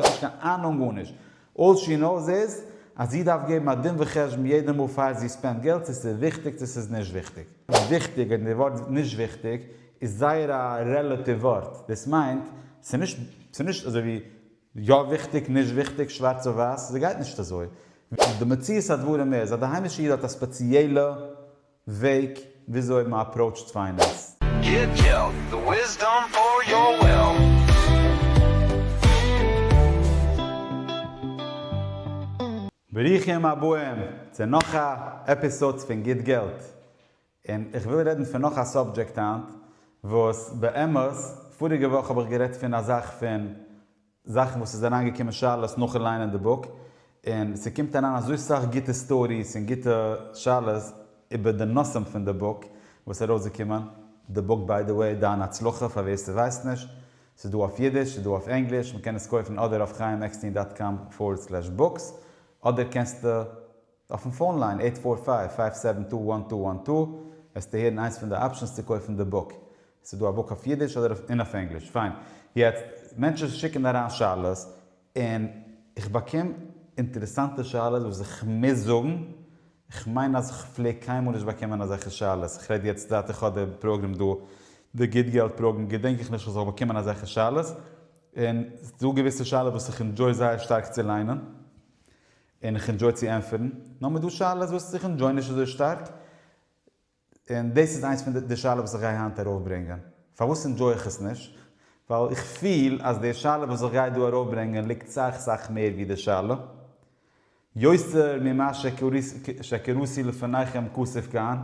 האט נישט קיין אהנונג גארנישט, אלל שי נאוס איז אז זי דארף געבן א דין וחשבון יעדע מאל פאר זי ספענד געלט צו ס'איז וויכטיג צו ס'איז נישט וויכטיג. וויכטיג, און די ווארט נישט וויכטיג איז זייער א רעלאטיוו ווארט, דאס מיינט ס'איז נישט אזוי ווי יא וויכטיג נישט וויכטיג שווארץ אויף ווייס, ס'גייט נישט אזוי, די מציאות הדברים איז אז די היימישע איד האט א ספעציעלע. וועג וויאזוי מען אפראוטשט פיינענס. גיט געלט, די וויסדאם פאר יאר וועלן. ברוכים הבאים צו נאך א עפיסאדס פון גיט געלט, און איך וויל רעדן פון נאך א סאבדזשעקט היינט, וואס באמת פאריגע וואך האב איך גערעדט פון א זאך פון. זאכן וואס איז אריין געקומען שאלות נאכן ליינען די בוק, און ס'קומט אריין אזוי סאך גוטע סטאריס און גוטע שאלות איבער די נושאים פון די בוק וואס איז ארויסגעקומען, די בוק ביי די וועי דיין הצלחה פאר ווער ס'ווייסט נישט, ס'איז דא אויף אידיש, ס'איז דא אויף ענגליש, מ'קען עס קויפן אדער אויף חיים עקסטין דאט קאם פארווערד סלעש בוקס, אדער קענסטו. אויפן פאון ליין עיט פאר פייוו פייוו סעווען טו וואן טו וואן טו וועסטו הערן איינס פון די אפשענס צו קויפן די בוק. עס איז דא א בוק אויף אידיש אדער אויף און אויף ענגליש. פיין. יעצט, מענטשן שיקן אריין שאלות און איך באקום אינטערעסאנטע שאלות וואס איך מוז זאגן, איך מיין אז איך פלעג קיינמאל נישט באקומען אזעלכע שאלות, איך רעד יעצט זייט איך האב די פראגרעם דא, די גוט געלט פראגרעם, געדענק איך נישט איך זאל באקומען אזעלכע שאלות, און ס'דא געוויסע שאלות וואס איך ענדזשוי זייער שטארק צו ליינען. און איך ענדזשוי צו ענטפערן, נאר מיט דו שאלות וואס איך ענדזשוי נישט אזוי שטארק, און דאס איז איינס פון די שאלות וואס איך גיי היינט ארויפברענגען. פארוואס ענדזשוי איך עס נישט? ווייל איך פיל אז די שאלה וואס איך גיי דא ארויפברענגען ליגט סאך סאך מער ווי די שאלה. יותר ממה שקראתי לפניכם כסוף כאן,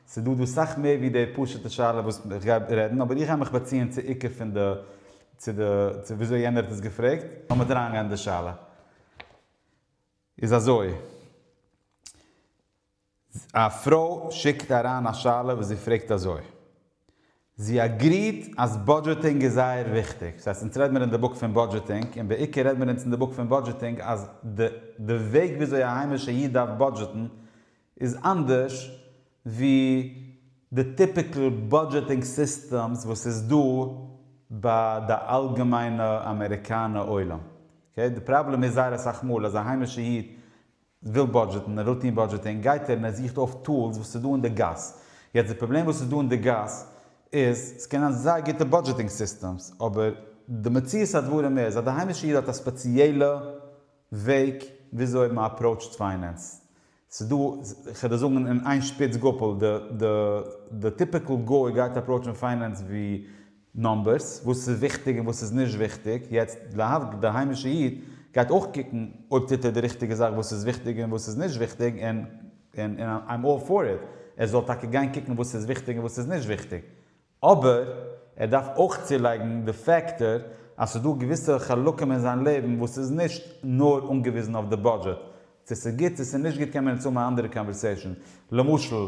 ס'דא דא סאך מער ווי די פשוט'ע שאלה וואס איך גיי רעדן, אבער איך גיי מיך באציען צו עיקר פון די, צו די, צו וויאזוי יענער האט עס געפרעגט. לאמיר אריינגיין אין די שאלה. איז אזוי, א פרוי שיקט אריין א שאלה וואס זי פרעגט אזוי, זי אגריעט אז בודזשעטינג איז זייער וויכטיג, ס'הייסט אונז רעד מיר אין די בוק פון בודזשעטינג, און בעיקר רעד מיר אונז אין די בוק פון בודזשעטינג אז די וועג וויאזוי א היימישע איד דארף בודזשעטן איז אנדערש ווי די טיפיקל בודזשעטינג סיסטעמס וואס איז דא ביי די אלגעמיינע אמעריקאנע עולם. די פראבלעם איז זייער אסאך מאל אז א היימישע איד וויל בודזשעטן, ער רוטין בודזשעטינג, גייט ער און ער זוכט אויף טולס וואס איז דא אין די גאס. יעצט די פראבלעם וואס איז דא אין די גאס איז, עס קען זיין זייער גוטע בודזשעטינג סיסטעמס, אבער די מציאות הדברים איז אז די היימישע איד האט א ספעציעלע, וועג וויאזוי מען אפראוטשט פיינענס. ס'איז דא, כ'וועל דיר זאגן אין איין שפיץ גאפל, די די די טיפיקל גוי גייט אפראוטשן פיינענס ווי נומבערס, וואס איז וויכטיג און וואס איז נישט וויכטיג, יעצט להבדל די היימישע איד גייט אויך קוקן אויב טוט ער די ריכטיגע זאך וואס איז וויכטיג און וואס איז נישט וויכטיג און און איים אלל פאר איט ער זאל טאקע גיין קוקן וואס איז וויכטיג און וואס איז נישט וויכטיג אבער ער דארף אויך צולייגן די פעקטאר אז ס'איז דא געוויסע חלקים אין זיין לעבן וואס איז נישט נאר אנגעוויזן אויף די בודזשעט. צו ס'איז גוט צו ס'איז נישט גוט קען מען יעצט האבן א אנדערע קאנווערסעישאן. למשל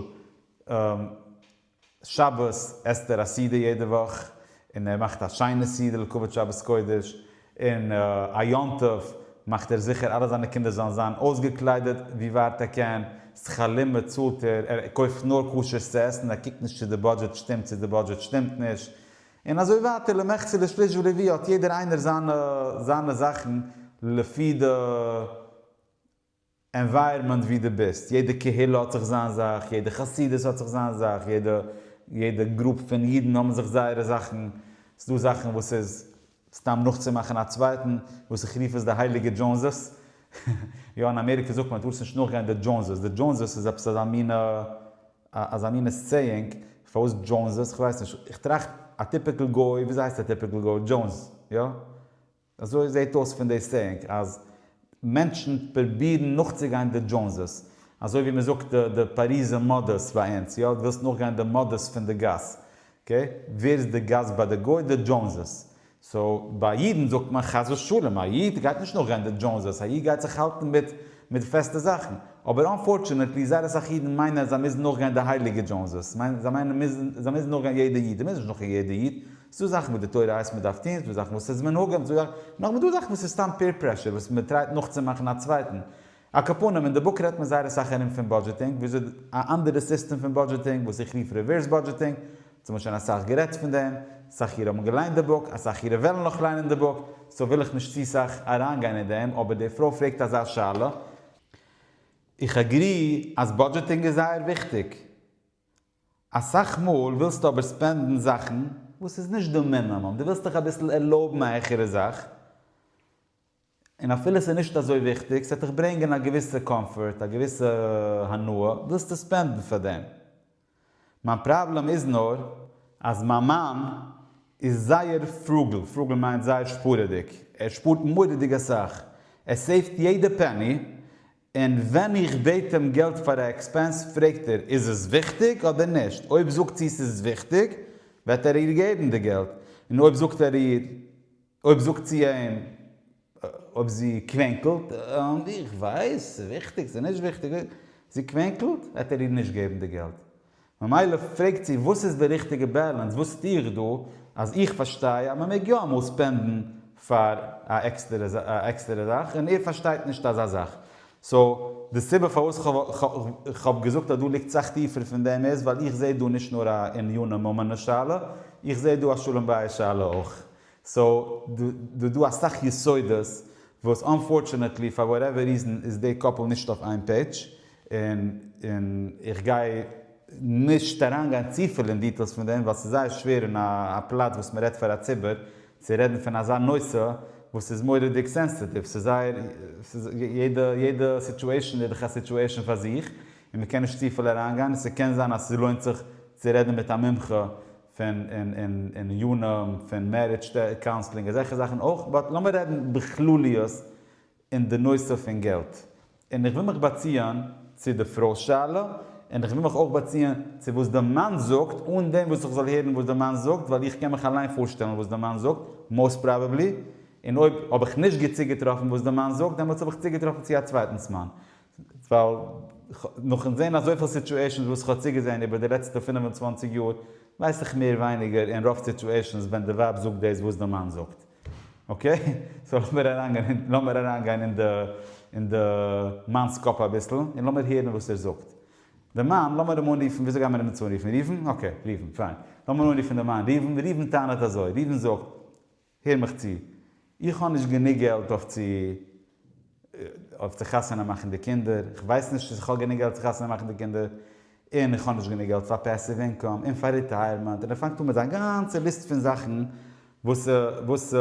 שבת עסט ער א סעודה יעדע וואך, און ער מאכט א שיינע סעודה לכבוד שבת קודש, און א יום טוב מאכט ער זיכער אלע זיינע קינדער זאלן זיין אויסגעקליידעט ווי ווייט ער קען, שכלים באצאלט ער, ער קויפט נאר כשר'ס צו עסן, ער קוקט נישט צו די בודזשעט שטימט צו די בודזשעט שטימט נישט, און אזוי ווייטער, למחצה ולשליש ולרביע האט יעדער איינער זיינע זיינע זאכן לפי די ענווייערמענט ווי דו ביסט, יעדע קהילה האט זיך זיין זאך, יעדע חסידות האט זיך זיין זאך, יעדע יעדע גרופ פון אידן האבן זיך זייערע זאכן, ס'דא זאכן וואס איז סתם נאכצומאכן א צווייטן, וואס איך רוף עס די הייליגע דזשאונסעס, יא אין אמעריקע זאגט מען דו דארפסט נישט נאכגיין די דזשאונסעס, די דזשאונסעס איז עפעס אזא מינע אזא מינע סעיאינג, פארוואס דזשאונסעס? כ'ווייס נישט, איך טראכט א טיפיקל גוי, וויאזוי הייסט א טיפיקל גוי? דזשאונס, יא? אזוי זעהט אויס פון די סעאינג אז מענטשן פרובירן נאכצוגיין די דזשאונסעס, אזוי ווי מ'זאגט די פאריזע מאדעס ביי אונז, יא, דו ווילסט נאכגיין די מאדעס פון די גאס, אקעי, ווער איז די גאס ביי די גוי? די דזשאונסעס, סאו ביי אידן זאגט מען חס ושלום, א איד גייט נישט נאכגיין די דזשאונסעס, א איד גייט זיך האלטן מיט מיט פעסטע זאכן, אבער אנפארטשענעטלי זייער אסאך אידן מיינען אז זיי מוזן נאכגיין די הייליגע דזשאונסעס, זיי מיינען זיי מוזן נאכגיין יעדע איד, זיי מוזן נישט נאכגיין יעדע איד, ס'איז דא זאכן וואס די תורה הייסט מ'דארף טון, ס'איז דא זאכן וואס איז מנהגים, ס'איז דא זאכן, נאכדעם איז דא זאכן וואס איז סתם פעיר פרעשור וואס מ'טרייט נאכצומאכן א צווייטן. א קאפנים, אין די בוק רעדט מען זייער אסאך ארום פון בודזשעטינג, וויאזוי א אנדערע סיסטעם פון בודזשעטינג וואס איך רוף ריווערס בודזשעטינג, צו מ'האט שוין אסאך גערעדט פון דעם, אסאך אירע האבן געליינט די בוק, אסאך אירע וועלן נאך ליינען די בוק, סאו וויל איך נישט צו סאך אריינגיין אין דעם, אבער די פרוי פרעגט אזא שאלה, איך אגרי אז בודזשעטינג איז זייער וויכטיג, אסאך מאל ווילסטו אבער ספענדן זאכן וואס איז נישט די מינימום, דו ווילסט דיך אביסל ערלויבן א העכערע זאך, און אפילו ס'איז נישט אזוי וויכטיג, ס'וועט דיך ברענגען א געוויסע קאמפארט, א געוויסע הנאה, ווילסטו ספענדן פאר דעם. מיין פראבלעם איז נאר אז מיין מאן איז זייער פרוגל, פרוגל מיינט זייער שפארעדיג, ער שפארט מורא'דיג אסאך, ער סעיווט יעדע פעני, און ווען איך בעט אים געלט פאר א עקספענס פרעגט ער איז עס וויכטיג אדער נישט, אויב זאגט זי ס'איז וויכטיג וועט ער איר געבן די געלט, און אויב זאגט ער איר, אויב זאגט זי אים, אויב זי קווענקלט, איך ווייס ס'איז וויכטיג ס'איז נישט וויכטיג, זי קווענקלט, וועט ער איר נישט געבן די געלט. ממילא פרעגט זי וואס איז די ריכטיגע בעלענס, וואס טו איך דא, אז איך פארשטיי אז מען מעג יא אמאל ספענדן פאר א עקסטערע זאך און ער פארשטייט נישט אזא זאך. סאו די סיבה פארוואס איך האב געזאגט אז דא ליגט סאך טיפער פון דעם איז ווייל איך זעה דא נישט נאר א עניני ממון שאלה, איך זעה דא א שלום בית שאלה אויך. סאו דא דא אסאך יסודות וואס אנפארטשענעטלי פאר וואטעווער ריזען איז די קאפל נישט אויף איין פעידזש, און און איך גיי נישט אריינגיין צופיל אין דיטעילס פון דעם ווייל ס'איז זייער שווער אין א א פלאץ וואס מ'רעדט פאר א ציבור צו רעדן פון אזא נושא וואס איז מורא'דיג סענסעטיוו, ס'איז זייער יעדע יעדע סיטועשאן איז דאך א סיטועשאן פאר זיך און מ'קען נישט צופיל אריינגיין און ס'קען זיין אז ס'לוינט זיך צו רעדן מיט א מומחה. פון און יונים פון מערידזש קאונסלינג אזעלכע זאכן אויך באט לאמיר רעדן בכלליות אין די נושא פון געלט און איך וויל מיך באציען צו די פרוי'ס שאלה און איך וויל מיך אויך באציען צו וואס די מאן זאגט אן דעם וואס איך זאל הערן וואס די מאן זאגט ווייל איך קען מיך אליין פארשטעלן וואס די מאן זאגט מאוסט פראבעבלי און אויב האב איך נישט גוט צוגעטראפן וואס די מאן זאגט דעמאלטס האב איך צוגעטראפן צו א צווייטנס מאן ווייל נאכן זען אזויפיל סיטועשענס וואס איך האב צוגעזען איבער די לעצטע פֿינף און צוואַנציק יאר ווייס איך מער ווייניגער אין רוב סיטועשענס ווען די ווייב זאגט דאס וואס די מאן זאגט אקעי סאו לאמיר אריינגיין אין די מאנ'ס קאפ אביסל און לאמיר הערן וואס ער זאגט די מאן לאמיר אים אנרופן וויאזוי גיימיר אים יעצט אנרופן ראובן אקעי ראובן פיין לאמיר אנרופן די מאן ראובן ראובן טענה'ט אזוי ראובן זאגט. הער מיך צו, איך האב נישט גענוג געלט אויף צו אויף צו חתונה מאכן די קינדער, איך ווייס נישט צו איך האב גענוג געלט צו חתונה מאכן די קינדער, און איך האב נישט גענוג געלט פאר פעסיוו אינקאם און פאר ריטייערמענט, און ער פאנגט אן מיט זיין גאנצע ליסט פון זאכן וואס וואס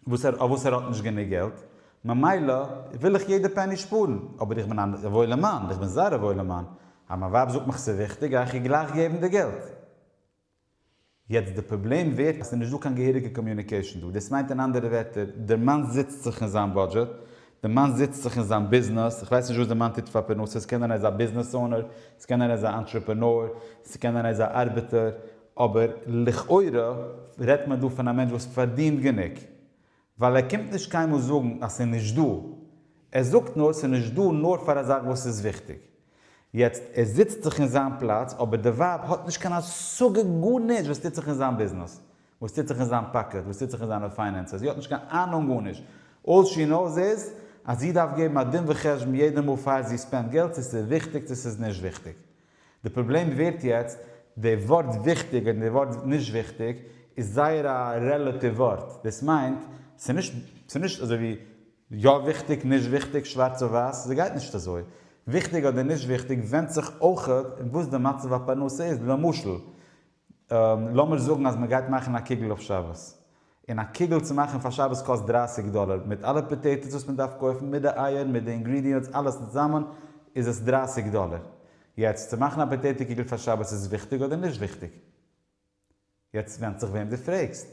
וואס אויף וואס ער האט נישט גענוג געלט, ממילא וויל איך יעדע פעני שפארן, אבער איך בין א וואוילע מאן, איך בין זייער א וואוילע מאן, אז מיין ווייב זאגט מיך ס'איז וויכטיג גיי איך איר גלייך געבן די געלט. יעצט די פראבלעם ווערט אז ס'איז נישט דא קיין געהעריגע קאמיוניקעישן דא, דאס מיינט אין אנדערע ווערטער, דער מאן זיצט זיך אין זיין בודזשעט, דער מאן זיצט זיך אין זיין ביזנעס, איך ווייס נישט וואס דער מאן טוט פאר פרנסה, ס'קען זיין ער איז א ביזנעס אונער, ס'קען זיין ער איז א אנטרעפענאר, ס'קען זיין ער איז א ארבעטער, אבער לכאורה רעדט מען דא פון א מענטש וואס פארדינט גענוג, ווייל ער קומט נישט קיינמאל זאגן אז ס'איז נישט דא, ער זאגט נאר ס'איז נישט דא נאר פאר א זאך וואס איז וויכטיג. יעצט, ער זיצט זיך אין זיין פלאץ, אבער די ווייב האט נישט קיין השגה גארנישט וואס טוט זיך אין זיין ביזנעס, וואס טוט זיך אין זיין פאקעט, וואס טוט זיך אין זיינע פיינענסעס, זי האט נישט קיין אהנונג גארנישט, אלל שי נאוס איז אז זי דארף געבן א דין וחשבון יעדע מאל פאר זי ספענד געלט צו ס'איז וויכטיג צו ס'איז נישט וויכטיג. די פראבלעם ווערט יעצט, די ווארט וויכטיג און די ווארט נישט וויכטיג איז זייער א רעלאטיוו ווארט, דאס מיינט ס'איז נישט אזוי ווי יא וויכטיג נישט וויכטיג שווארץ אויף ווייס, ס'גייט נישט אזוי, וויכטיג אדער נישט וויכטיג ווענדט זיך אויך וואס די מצב הפרנסה איז, למשל, לאמיר זאגן אז מען גייט מאכן א קוגל אויף שבת, און א קוגל צו מאכן פאר שבת קאסט דרייסיג דאלער, מיט אלע פאטעיטאס וואס מען דארף קויפן, מיט די אייער, מיט די אינגרידיענטס, אלעס צוזאמען איז עס דרייסיג דאלער. יעצט, צו מאכן א פאטעיטא קוגל פאר שבת איז וויכטיג אדער נישט וויכטיג? יעצט ווענדט זיך וועם דו פרעגסט.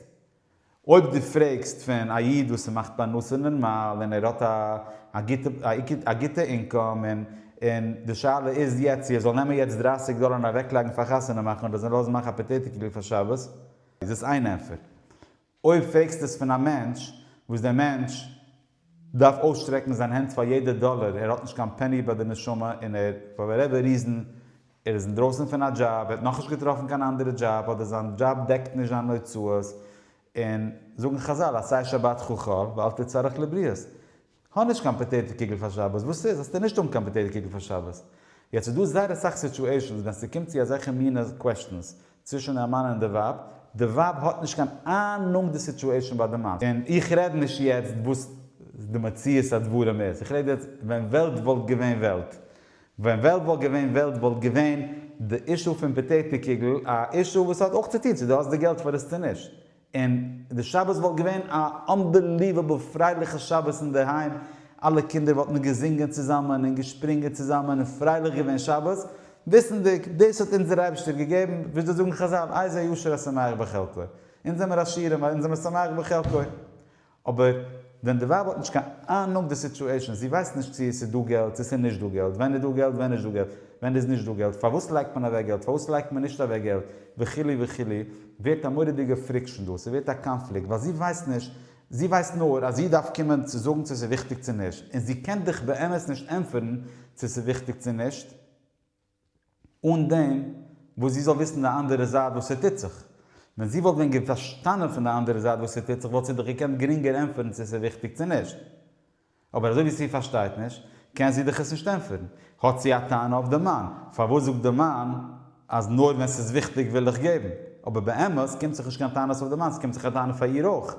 אויב דו פרעגסט פון א איד וואס מאכט פרנסה נארמאל און ער האט א גוטע אינקאם און און די שאלה איז יעצט צו ער זאל נעמען יעצט דרײַסיק דאלער און אוועקלייגן פאר חתונה מאכן אדער זיי לאזן מאכן א פאטעיטא קיגל פאר שבת איז עס איין ענטפער. אויב פרעגסטו עס פון א מענטש וואס דער מענטש. דארף אויסשטרעקן זיין הענט פאר יעדע דאלער, ער האט נישט קיין פעני ביי די נשמה און ער, פאר וואטעווער ריזען, ער איז אינדרויסן פון א דזשאב, ער האט נאכנישט געטראפן קיין אנדערע דזשאב, אדער זיין דזשאב דעקט נישט זיין הוצאות, און זאגן חזל עשה שבת חחל ואל תצרך לבריות, האב נישט קיין פאטעיטא קיגל פאר שבת, וואס איז? האסטו נישט האבן קיין פאטעיטא קיגל פאר שבת? יעצט איז דא זייער אסאך סיטואשענס ווען ס'קומט צו אזעלכע מינע קוועשטענס, צווישן א מאן און די ווייב, די ווייב האט נישט קיין אהנונג די סיטועשן ביי די מאן, און איך רעד נישט יעצט וואס די מציאות הדברים איז, איך רעד יעצט ווען וועלט וואלט געווען וועלט, ווען וועלט וואלט געווען וועלט וואלט געווען די אישו פון פאטעטע קוגל א אישו וואס האט אויך צוטון צו די האסט די געלט פאר עס צו נישט, און די שבת וואלט געווען א אנבעליוועבל פרייליכע שבת אינדערהיים, אלע קינדער וואלטן געזינגען צוזאמען און געשפרינגען צוזאמען און פרייליך געווען שבת, וויסנדיג דאס האט אונז דער אייבערשטער געגעבן, וויאזוי זאגן חזל איזה ישר השמח בחלקו, אונז זעמיר עשירים ווייל אונז זעמיר שמח בחלקו, אבער ווען די ווייב האט נישט קיין אהנונג די סיטועשאן, זי ווייסט נישט צו עס איז דא געלט צו עס איז נישט דא געלט, ווען איז דא געלט ווען איז נישט דא געלט, ווען איז נישט דא געלט, פארוואס לייגט מען אוועק געלט פארוואס לייגט מען נישט אוועק געלט, וכו' וכו', ווערט א מורא'דיגע פריקשאן דא, ס'ווערט א קאנפליקט, ווייל זי ווייסט נישט, זי ווייסט נאר אז זי דארף קומען צו זאגן צו עס איז וויכטיג צו נישט, און זי קען דיך באמת נישט ענטפערן צו עס איז וויכטיג צו נישט, אן דעם וואס זי זאל וויסן די אנדערע זייט וואס ס'טוט זיך. ווען זי וואלט ווען פארשטאנען פון די אנדערע זייט וואס ס'טוט זיך וואלט זי דאך געקענט גרינגער ענטפערן צו ס'איז וויכטיג צו נישט. אבער אזוי ווי זי פארשטייט נישט קען זי דאך עס נישט ענטפערן. האט זי א טענה אויף די מאן? פארוואס זאגט די מאן אז נאר ווען ס'איז וויכטיג וויל איך געבן? אבער באמת קומט זיך נישט קיין טענות אויף די מאן, ס'קומט זיך א טענה פאר איר אויך,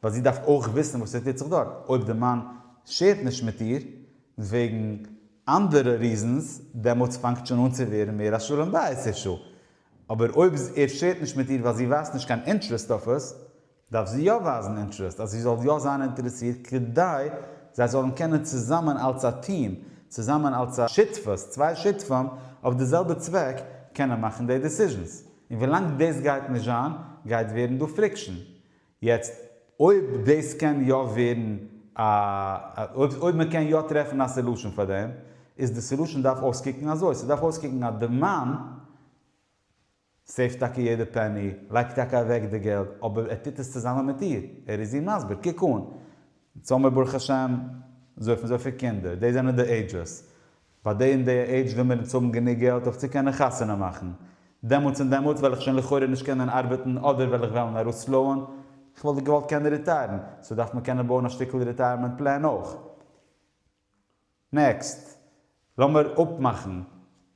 ווייל זי דארף אויך וויסן וואס ס'טוט זיך דארט. אויב די מאן שערט נישט מיט איר וועגן. אנדערע ריזענס, דעמאלטס פאנגט שוין אן צו ווערן מער א שלום בית אישו. אבער אויב ער שערט נישט מיט איר ווייל זי ווייזט נישט קיין אינטערעסט אויף עס, דארף זי יא ווייזן אינטערעסט אז זי זאל יא זיין אינטערעסירט כדי זיי זאלן קענען צוזאמען אלס א טיעם, צוזאמען אלס א שותפות, צוויי שותפים אויף די זעלבע צוועק, קענען מאכן די דעסיזשענס. און ווילאנג דאס גייט נישט זיין גייט ווערן דא פריקשן. יעצט אויב דאס קען יא ווערן א, אויב מען קען יא טרעפן א סעלושען פאר דעם, איז די סעלושען דארף אויסקוקן אזוי, ס'דארף אויסקוקן אז די מאן סעיווט טאקע יעדע פעני, לייגט טאקע אוועק די געלט, אבער ער טוט עס צוזאמען מיט איר, ער איז איר מסביר, קוק אן, יעצט האבן מיר ברוך השם אזויפן אזויפיל קינדער, די זענען די עידזשעס, ביי די און די עידזש וויל מיר אונז האבן גענוג געלט אויף צו קענען חתונה מאכן. דעמאלטס און דעמאלטס וועל איך שוין לכאורה נישט קענען ארבעטן אדער וועל איך וועלן ארויספלויען. איך וואלט געוואלט קענען ריטייערן, סאו דארף מען קענען בויען א שטיקל ריטייערמענט פלען אויך. נעקסט. לאמיר אפמאכן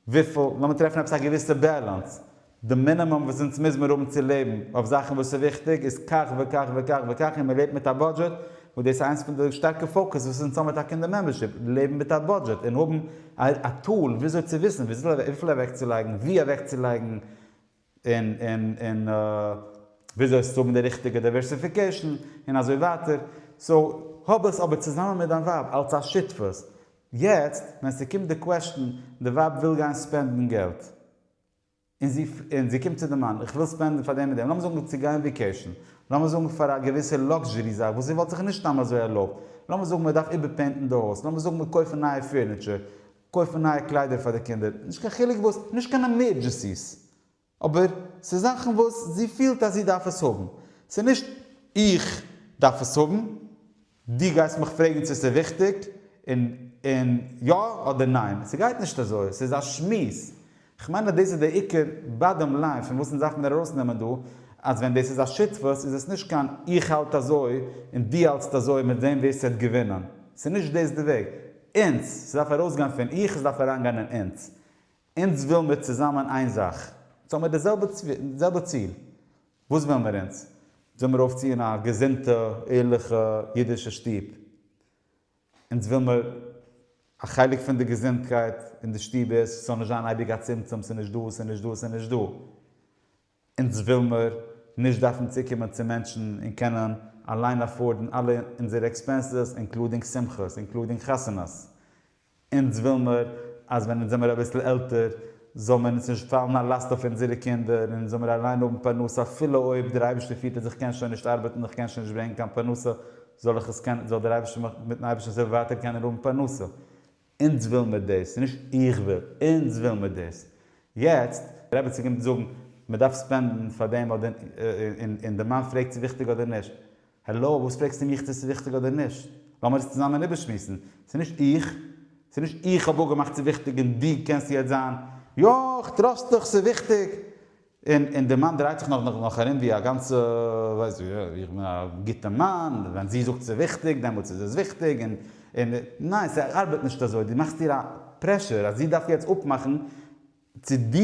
וויפיל, לאמיר טרעפן עפעס א געוויסע בעלענס. די מינימום וואס אונז מוז מיר האבן צו לעבן אויף זאכן וואס איז וויכטיג איז כך וכך וכך וכך און מען לעבט מיט א בודזשעט וואס דאס איז איינס פון די שטארקע פאוקעס וואס אונז האבן טאקע אין די מעמבערשיפ לעבן מיט א בודזשעט און האבן א טול וויאזוי צו וויסן וויפיל אוועקצולייגן ווי אוועקצולייגן און און און וויאזוי עס צו האבן די ריכטיגע דייווערסיפיקעישן און אזוי ווייטער סאו האב עס אבער צוזאמען מיט דיין ווייב אלץ א שותפות יעצט ווען ס'קומט די קוועסטשן די ווייב וויל גיין ספענדן געלט. און זי און זי קומט צו די מאן, איך וויל ספענדן פאר דעם און דעם, לאמיר זאגן צו גיין וויקעישן, לאמיר זאגן פאר א געוויסע לאקזשערי זאך וואס זי וואלט זיך נישט סתם אזוי ערלויבט, לאמיר זאגן מען דארף איבערפעינטן די הויז, לאמיר זאגן מיר קויפן נייע פירניטשער, קויפן נייע קליידער פאר די קינדער, נישט קיין חילוק וואס, נישט קיין עמירדזשעסיס, אבער ס'איז זאכן וואס זי פילט אז זי דארף עס האבן, ס'איז נישט איך דארף עס האבן, דו גייסט מיך פרעגן צו ס'איז וויכטיג, און און יא אדער ניין. ס'גייט נישט אזוי, ס'איז א שמועס. כ'מיין אז דאס איז דער עיקר באדאם ליין פון וואס אונז דארף מיר ארויסנעמען דא, אז ווען דאס איז א שותפות איז עס נישט קיין איך האלט אזוי און דו האלטסט אזוי מיר זעהן ווער ס'וועט געווינען. ס'איז נישט דאס די וועג. אונז, ס'דארף ארויסגיין פון איך, ס'דארף אריינגיין אין אונז. אונז וויל מיר צוזאמען איין זאך. אונז האמיר די זעלבע ציל. וואס ווילן מיר אונז? זאל מיר אויפציען א געזונטע, ערליכע, אידישע שטוב. אונז וויל מיר א חלק פון די געזונטקייט אין די שטוב איז ס'זאל נישט זיין אייביג א צמצום, ס'איז נישט דא, ס'איז נישט דא, ס'איז נישט דא. אונז וויל מיר נישט דארפן צוקומען צו מענטשן און קענען אליין עפארדן אלע אונזערע עקספענסעס אינקלודינג שמחות, אינקלודינג חתונות, אונז וויל מיר אז ווען אונז זעמיר אביסל עלטער זאל מיר אונז נישט פאלן א לאסט אויף אונזערע קינדער און זאל מיר אליין האבן פרנסה אפילו אויב דער אייבערשטער פירט אז איך קען שוין נישט ארבעטן איך קען שוין נישט ברענגן קיין פרנסה זאל איך עס קענען זאל דער אייבערשטער מיך מיטן אייבערשטענס הילף ווייטער קענען האבן פרנסה אונז וויל מיר דאס נישט איך וויל אונז וויל מיר דאס יעצט רעבעצין קומט זאגן מען דארף ספענדן פאר דעם אדער און די מאן פרעגט צו וויכטיג אדער נישט. העלא, וואס פרעגסטו מיך צו ס'איז וויכטיג אדער נישט? לאמיר עס צוזאמען איבערשמועסן. ס'איז נישט איך. ס'איז נישט איך האב אפגעמאכט ס'איז וויכטיג און דו קענסט יעצט זיין, יא, איך טראסט דיך, ס'איז וויכטיג. און און די מאן דרייט זיך נאך נאך ארום ווי א גאנצע, ווייסט ווי, יא, איך בין א גוטע מאן, ווען זי זאגט ס'איז וויכטיג, דעמאלטס איז עס וויכטיג, און און. ניין, ס'ארבעט נישט אזוי. דו מאכסט איר א פרעשור אז זי דארף יעצט אפמאכן צו דו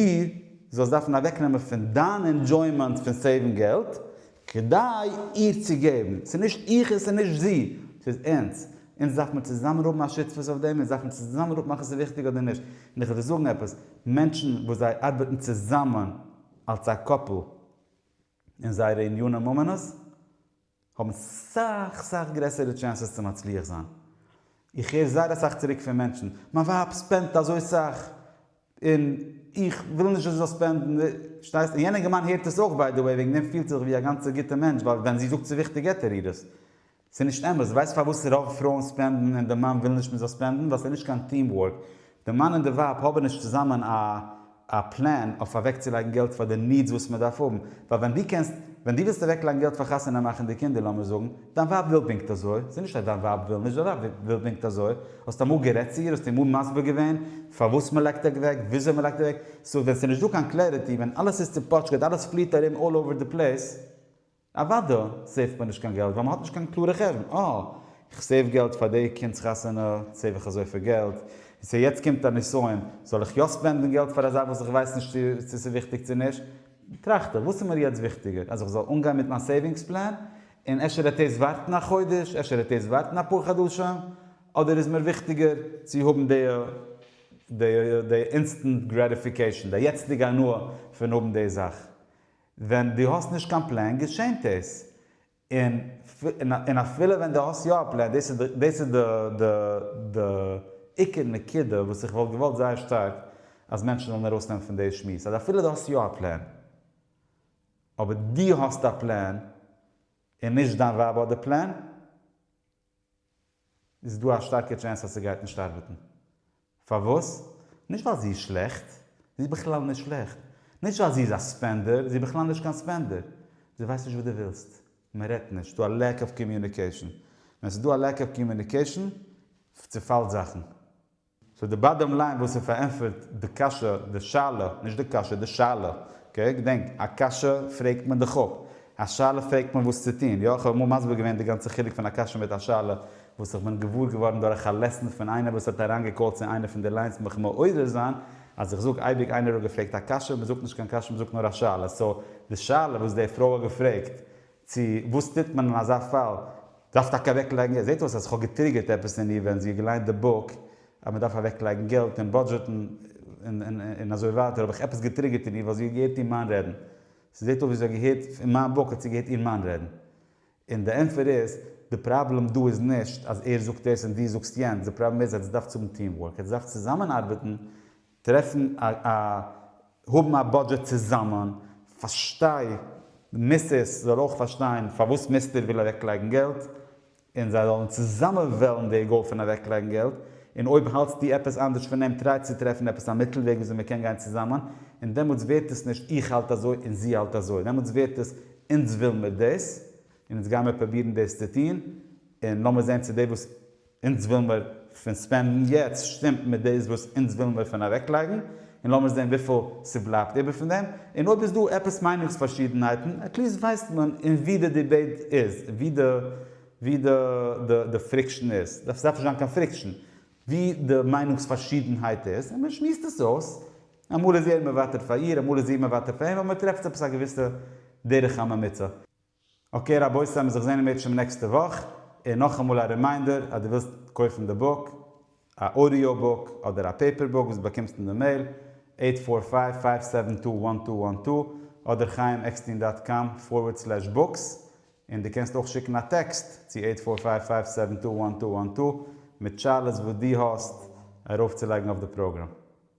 זאלסט דארפן אוועקנעמען פון דיין ענדזשוימענט פון סעיוון געלט כדי איר צו געבן, ס'איז נישט איך און ס'איז נישט זי, ס'איז אונז, אונז דארף מען צוזאמען האבן א שותפות אויף דעם, אונז דארף מען צוזאמען אפמאכן ס'איז וויכטיג אדער נישט, און איך וועל דיר זאגן עפעס, מענטשן וואס זיי ארבעטן צוזאמען אלס א קאפל אין זייערע ענייני ממונות, האבן סאך סאך גרעסערע טשענסעס צו מצליח זיין. איך הער זייער אסאך צוריק פון מענטשן, מיין ווייב ספענדט אזוי סאך און איך וויל נישט זי זאל ספענדן, פארשטייסט? און יענע געמיין הערט עס אויך ביי די וועי, וועגן דעם פילט זיך ווי א גאנצע גוטע מענטש ווייל ווען זי זאגט ס'איז וויכטיג געט ער איר עס. ס'איז נישט אמת, ווייסט פארוואס רוב פרויען ספענדן און די מאן וויל נישט מ'זאל ספענדן? ווייל ס'איז נישט קיין טיעם ווארק, די מאן און די ווייב האבען נישט צוזאמען א א פלען אויף אוועק צו לייגען געלט פאר די נידס וואס מען דארף האבען, ווייל ווען דו קענסט ווען דו ווילסט אוועק לייגען געלט פאר חתונה מאכען די קינדער לאמיר זאגען דיין ווייב וויל פונקט אזוי, ס'איז נישט אז דיין ווייב וויל נישט, דיין ווייב וויל פונקט אזוי, האסט אמאל גערעדט צו איר, האסט איר אמאל מסביר געווען פארוואס מען לייגט אוועק, וויאזוי מען לייגט אוועק, סאו ווען ס'איז נישט דא קיין קלעריטי, ווען אלעס איז צופאטשקעט, אלעס פליעט ארום אלל אווער די פלעיס, אוואדע סעיווט מען נישט קיין געלט ווייל מען האט נישט קיין קלארע חשבון, אה איך סעיוו געלט פאר די קינד'ס חתונה, סעיוו איך אזויפיל געלט, און סא יעצט קומט א נסיון, זאל איך יא ספענדן געלט פאר א זאך וואס איך ווייס נישט צו צו ס'איז וויכטיג צו נישט, טראכט איך וואס איז מיר יעצט וויכטיגער אז איך זאל אנגיין מיט מיין סעיווינגס פלען, און אפשר העט דאס ווארטן א חודש, אפשר העט דאס ווארטן אפאר חדשים, אדער איז מיר וויכטיגער צו האבן די די די אינסטענט גרעטיפיקעישן, די יעצטיגע הנאה פון האבן די זאך, ווען דו האסט נישט קיין פלען געשענט דאס, און און אפילו ווען דו האסט יא א פלען, דאס איז די דאס איז די די די עיקר נקודה וואס איך וואלט געוואלט זייער שטארק אז מענטשן זאלן ארויסנעמען פון די שמועס, אז אפילו דו האסט יא א פלען, אבער דו האסט א פלען און נישט דיין ווייב האט די פלען, איז דא א שטארקע טשענס אז ס'גייט נישט ארבעטן. פארוואס? נישט ווייל זי איז שלעכט, זי איז בכלל נישט שלעכט. נישט ווייל זי איז א ספענדער, זי איז בכלל נישט קיין ספענדער. זי ווייסט נישט וואס דו ווילסט. מען רעדט נישט. ס'דא א לעק אוו קאמיוניקעישן. ווען ס'דא א לעק אוו קאמיוניקעישן, צעפאלט זאכן. סאו די באדאם ליין וואס איז פארענטפערט די קשיא, די שאלה, נישט די קשיא, די שאלה, אקעי, געדענק, א קשיא פרעגט מען דיך אפ, א שאלה פרעגט מען וואס צו טון, יא, כ'האב אמאל מסביר געווען די גאנצע חילוק פון א קשיא מיט א שאלה, וואס איך בין געוואר געווארן דורך א לעסן פון איינער וואס האט אריינגעקאלט צו איינע פון די ליינס מיך מעורר זיין, אז איך זאג אייביג איינער האט געפרעגט א קשיא, מ'זאגט נישט קיין קשיא מ'זאגט נאר א שאלה, סאו די שאלה וואס די פרוי האט געפרעגט צו וואס טוט מען אין אזא פאל? דארף טאקע אוועק לייגן? עס זעט אויס אז איך האב געטריגערט עפעס אין איר ווען זי האט געליינט די בוק אז מען דארף אוועק לייגן געלט און בודזשעטן און אזוי ווייטער האב איך עפעס געטריגערט אין איר ווייל זי האט געהערט איר מאן רעדן ס'זעט אויס ווי זי האט געהערט אין מיין בוק האט זי געהערט איר מאן רעדן און די ענטפער איז די פראבלעם דא איז נישט אז ער זאגט דאס און דו זאגסט יענץ די פראבלעם איז אז עטס דארפטס האבן טיעם ווארק עטס דארפטס צוזאמען ארבעטן טרעפן א א האבן א בודזשעט צוזאמען, פארשטיי די מיסיס זאל אויך פארשטיין פארוואס מיסטער וויל אוועקלייגן געלט, און זיי זאלן צוזאמען וועלן די גאול פון אוועקלייגן געלט, און אויב האלטסטו עפעס אנדערש פון אים טריי צו טרעפן עפעס א מיטל וועג וויאזוי מען קען גיין צוזאמען, און דעמאלטס ווערט עס נישט איך האלט אזוי און זי האלט אזוי, דעמאלטס ווערט עס אונז וויל מיר דאס, און אונז גיימיר פרובירן דאס צו טון, און לאמיר זען צו די וואס אונז ווילן מיר פון ספענדן יעצט שטימט מיט דאס וואס אונז ווילן מיר פון אוועקלייגן, און לאמיר זען וויפיל ס'בלייבט איבער פון דעם, און אויב איז דא עפעס מיינונגס פארשידענהייטן עטליסט ווייסט מען אין ווי די דיבעיט איז, ווי די ווי די די פריקשן איז, דארף עס דארף נישט זיין קיין פריקשן, ווי די מיינונגס פארשידענהייט איז, און מען שמועסט עס אויס, אמאל איז ער מוותר פאר איר, אמאל איז איר מוותר פאר אים, אבער מען טרעפט עפעס א געוויסע דרך הממוצע. אקעי רבותי מיר זיך זעהן אין בעזשם נעקסטע וואך, און נאכאמאל א רימיינדער אז דו ווילסט קויפן די בוק, א אודיאו בוק אדער א פעיפער בוק וואס באקומסט אין די מעיל, עיט פאר פייוו פייוו סעווען טו וואן טו וואן טו אדער חיים עקסטין דאט קאם פארווערד סלעש בוקס, און דו קענסט אויך שיקן א טעקסט צו עיט פאר פייוו פייוו סעווען טו וואן טו וואן טו מיט שאלות וואס דו האסט ארויפצולייגן אויף די פראגראם.